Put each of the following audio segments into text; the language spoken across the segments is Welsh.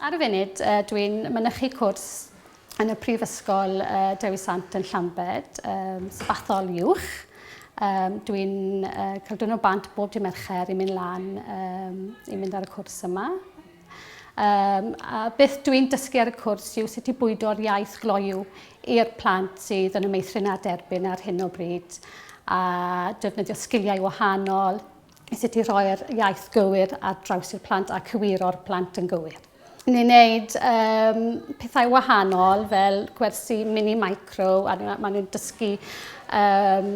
Ar y funud, uh, dwi'n mynychu cwrs yn y Prifysgol uh, Dewi Sant yn Llambed, um, sabathol uwch. Um, dwi'n uh, cael dwyn o bant bob di Mercher i mynd lan um, i mynd ar y cwrs yma. Yym, a beth dw i'n dysgu ar y cwrs yw sut i bwydo'r iaith gloyw i'r plant sydd yn y meithrin a derbyn ar hyn o bryd a defnyddio sgiliau wahanol i sut i rhoi'r iaith gywir ar draws i'r plant a cywiro'r plant yn gywir. Ni'n gwneud um, pethau wahanol fel gwersi mini micro a maen nhw'n dysgu um,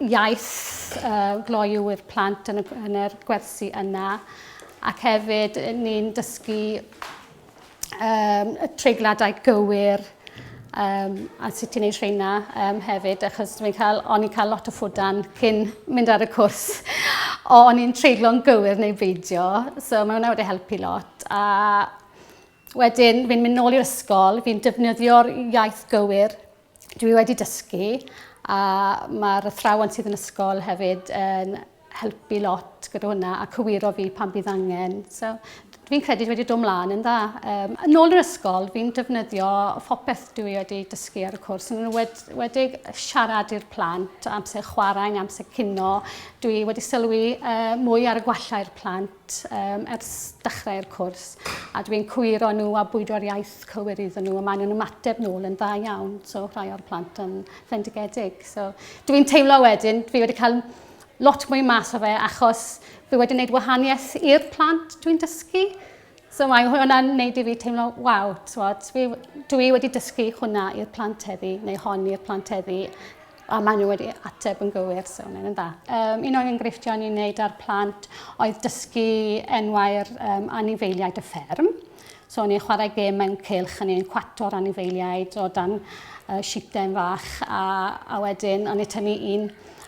iaith uh, gloyw i'r plant yn, y, yn yr gwersi yna. Ac hefyd, ni'n dysgu um, y treigladau gywir um, a sut i'n ei rheina um, hefyd, achos dwi'n cael, o'n i'n cael lot o ffwdan cyn mynd ar y cwrs. o, o'n i'n treiglo'n gywir neu beidio, so mae hwnna wedi helpu lot. A wedyn, fi'n mynd nôl i'r ysgol, fi'n defnyddio'r iaith gywir Dwi wedi dysgu a mae'r athrawon sydd yn ysgol hefyd yn helpu lot gyda hwnna a cywiro fi pan bydd angen. So, fi'n credu dwi wedi dod mlaen yn dda. Um, yn ôl yr ysgol, fi'n defnyddio phopeth dwi wedi dysgu ar y cwrs. Yn wed, wedi siarad i'r plant, amser chwarae, amser cino. Dwi wedi sylwi uh, mwy ar y gwallau'r plant. T-ym ers dechrau'r cwrs a dwi'n cywiro nhw a bwydo'r iaith cywir iddyn nhw a maen nhw'n ymateb nôl yn dda iawn. So rhai o'r plant yn fendigedig. So dwi'n teimlo wedyn, fi wedi cael lot mwy mas o fe achos fi wedi gwneud wahaniaeth i'r plant dwi'n dysgu. So mae hwnna'n gwneud i fi teimlo, waw, dwi wedi dysgu hwnna i'r plant heddi, neu hon i'r plant heddi. A maen nhw wedi ateb yn gywir, so maen nhw'n dda. Um, un o'r enghreifftiau ni'n neud ar plant oedd dysgu enwau'r um, anifeiliaid y fferm. So o'n i'n chwarae gêm mewn cilch, o'n i'n cwato'r anifeiliaid o dan uh, sitem fach, a, a wedyn o'n i'n tynnu un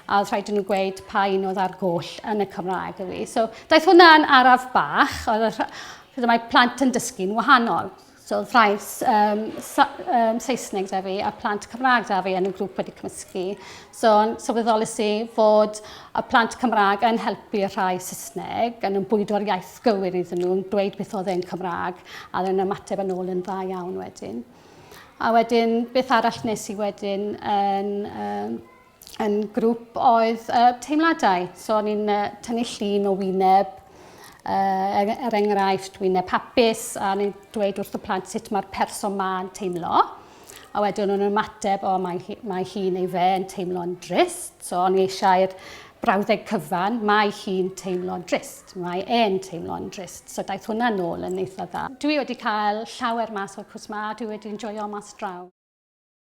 a oedd rhaid nhw gweud pa un oedd ar goll yn y Cymraeg y fi. So, daeth hwnna yn araf bach, oedd y, mae plant yn dysgu'n wahanol. So oedd rhai um, um, Saesneg da fi a plant Cymraeg da fi yn y grŵp wedi cymysgu. So sylweddolus i fod y plant Cymraeg yn helpu y rhai Saesneg, yn bwydo'r iaith gywir iddyn nhw, yn dweud beth oedd e'n Cymraeg, a yn ymateb yn ôl yn dda iawn wedyn. A wedyn, beth arall nes i wedyn yn um, yn grŵp oedd uh, teimladau. So o'n i'n uh, tynnu llun o wyneb, uh, er, er enghraifft wyneb hapus, a o'n i'n dweud wrth y plant sut mae'r person ma'n teimlo. A wedyn o'n ymateb, o mae, hi, mae hi neu fe yn teimlo'n drist. So o'n i eisiau'r brawddeg cyfan, mae hi'n teimlo'n drist, mae e'n teimlo'n drist. So daeth hwnna nôl yn eitha dda. Dwi wedi cael llawer mas o'r cwrs ma, dwi wedi enjoyio mas draw.